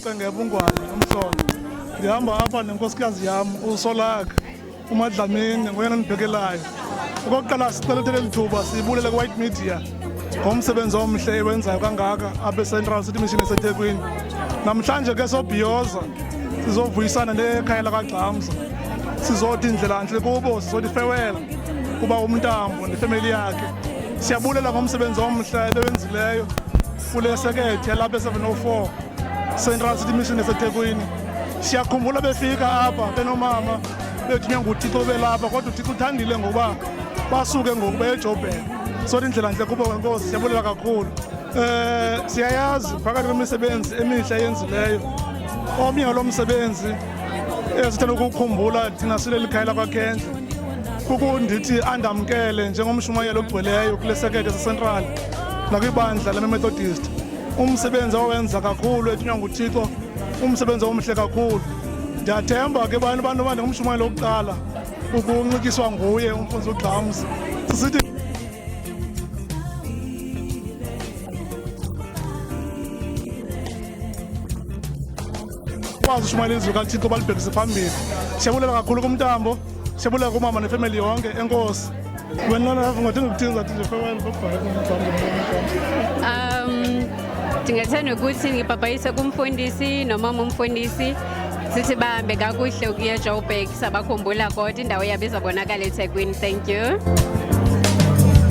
Cengebungwane umsono ndihamba apha nenkosikazi yam usolaka umadlamini ngoyena ndibhekelayo okokuqala sicela uthe leli thuba sibulele kwi-white media ngomsebenzi omhle ewenzayo kangaka apha ecentral city mission esethekwini namhlanje ke sobhiyoza sizovuyisana nekhaya lakagxamza sizothi indlelantle kubo sizothi fewela kuba umntambo nefemeli yakhe siyabulela ngomsebenzi omhle ebewenzileyo kule sekethe yalapha e-704 central city mission esethekwini siyakhumbula befika apha benomama bethunywa nguthixo belapha kodwa uthixo uthandile ngokuba basuke ngoku beyejobhela sothi indlela ntle kubo kwenkosi siyabulela kakhulu um siyayazi phakathi kwemisebenzi emihle yenzileyo omnye walo msebenzi esithanda ukukhumbula thina sileli khaya lakwakhendle kukundithi andamkele njengomshumayeli ogcweleyo kule sekete sasentral nakwibandla lememethodist umsebenzi owenza kakhulu ethunywa nguthixo umsebenzi omhle kakhulu ndiyathemba ke bantu bantu uba ndingumshumayeli wokuqala ukunxityiswa nguye umfundisi ugxams sisithi kwazi ushumayela izwi kathixo balibhekise phambili siyabulela kakhulu kumntambo Siyabulela kumama nefemeli yonke. Enkosi. Wena nalapho ngathenga ukuthini zathi nje fewayini babhale Um ndingathanda ukuthi ngibhabhayise kumfundisi nomama umfundisi sithi bahambe kakuhle ukuya Joburg sabakhumbula kodwa indawo yabo izabonakala eThekwini. Thank you.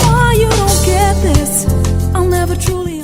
Oh, you don't get this. I'll never truly